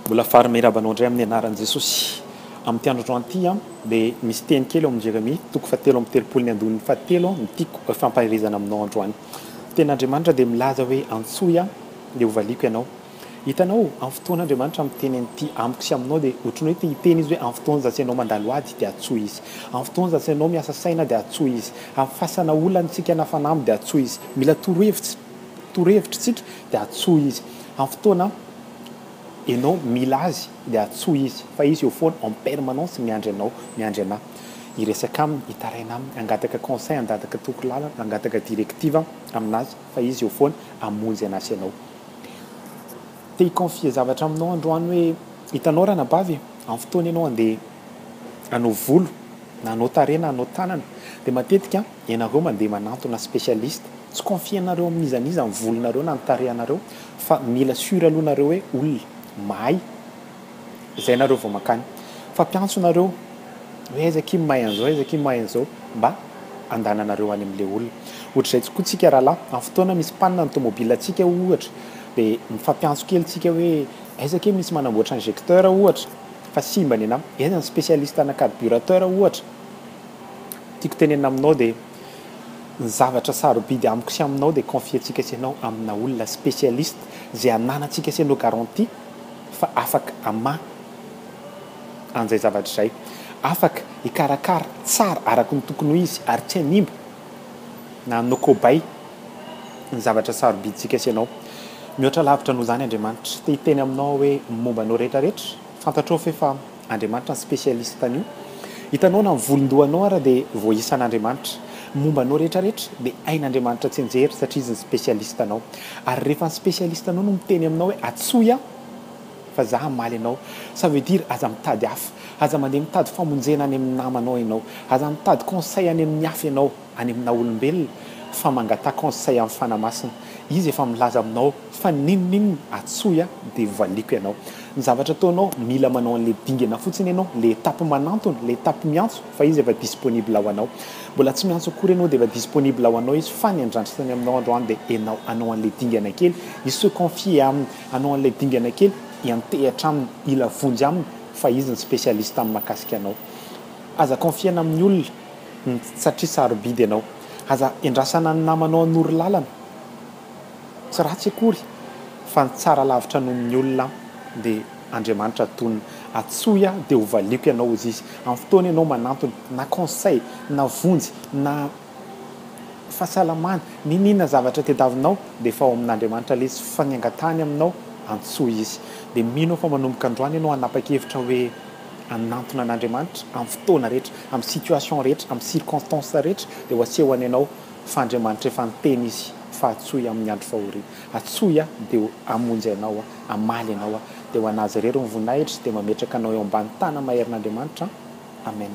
Mbola fary miraba anao indray amin'ny anaran'i Jesosy. Amin'ity andro androany ity dia misy teny kely ao amin'ny Jeremia toko fahatelo amby telopolo ny andininy fahatelo no tiako hifampaherezana aminao androany. Ny tenin'Andriamanitra dia milaza hoe antsoy aho dia hovaliako ianao. Hitanao, amin'ny fotoan'Andriamanitra miteny an'ity amiko sy aminao dia ohatry ny hoe te hiteny izy hoe amin'ny fotoan'izany ianao mandalo ady dia antsoy izy. Amin'ny fotoan'izany ianao miasa saina dia antsoy izy. Amin'ny fasana olana isika na fanamby dia antsoy izy. Mila torohevitra. torohevitr'tsika dia atsoy izy amin'ny fotoana enao mila azy dia atsoy izy fa izy eo foana en permanence miandry anao miandry anà hiresaka aminy hitaraina aminy hangataka conseil handataka toky lalana hangataka directive aminazy fa izy eo foana hamonjy anà sy anao te hiconfier zavatra aminao androany hoe hitanao ranabavy e amin'ny fotoana enao andeha hanao volo na hanao tarehy na hanao tanana dia matetika Ianareo mandeha manantona specialiste, tsy confienareo amin'iza n'iza ny volonareo na ny tarehanareo fa mila sur aloha nareo hoe olona mahay zay nareo vao mankany fa mpiantso nareo hoe aiza akia mahay an'izao aiza akia mahay an'izao mba andananareo any amle olona. Ohatr'izay tokoa tsika rahalahy amin'ny fotoana misy panne ny tomobile tsika ohatra de mifampiantso kely tsika hoe aiza akia misy manamboatra injecteur ohatra fa simba nenam, aiza ny specialiste ana carburateur ohatra. Tiako tenenina aminao dia ny zavatra sarobidy amiko sy aminao dia confier-tsika sy anao amina olona specialiste izay ananantsika sy anao garantie fa afaka hamaha an'izay zavatra izay, afaka hikarakara tsara araka ny tokony ho izy ary tsy hanimba na hanao kobay ny zavatra sarobidintsika sy anao. Mihoatra lavitra noho izany Andriamanitra. Te hiteny aminao aho hoe momba anao rehetra rehetra, fantatrao ve fa. Andriamanitra ny spécialiste an'io. Hitanao na ny volondohanao ara dia voaisan'Andriamanitra. Ny momba anao rehetra rehetra dia hain'Andriamanitra tsinjery satria izy ny spécialiste anao. Ary rehefa ny spécialiste anao no miteny aminao hoe atsoy aho fa za hamaly anao, ça veut dire aza mitady hafa. Aza mandeha mitady famonjena any amin'ny namanao ianao. Aza mitady conseil any amin'ny hafa ianao. any aminao olombelona fa mangataha conseil am fana masina izy efa milaza aminao fa ninoninona atsoy ah de valiako ianao ny zavatra ataonao mila manao anle dingana fotsiny ianao le etape manantona le etape miantso fa izy efa disponible ho anao mbola tsy miantso akory ianao de efa disponible ho anao izy fa ny andrandrasany aminao andro any de enao hanao anle dingana kely hi se confier aminy hanao anle dingana kely hiantehatra aminy hila vonjy aminy fa izy ny specialiste am makasika anao aza confier-na amin'ny olona satria sarobidy ianao. Aza endrasana ny namanao hanoro lalana. Tsy ratsy akory fa ny tsara lavitra noho ny olona dia Andriamanitra tonina. Atsoy aho dia hovaliako ianao hozy izy. Amin'ny fotoana ianao manantona na conseil na vonjy na fahasalamana n'inon'inona zavatra tadiavinao dia efa ao amin'Andriamanitra ilay izy fa ny angatahany aminao antsoy izy. Dia mino aho fa manomboka androany ianao hanapa-kevitra hoe. hanantona an'Andriamanitra amin'ny fotoana rehetra, amin'ny situation rehetra, amin'ny circonstances rehetra dia ho asehony anao fa Andriamanitra efa niteny Izy fa atsoy amin'ny andro fahoriana, atsoy aho dia ho hamonjy anao aho, hamaly anao aho, dia ho an'Azy irery ny voninahitra, dia mametraka anao eo ambany tana maherin'Andriamanitra an! Amen.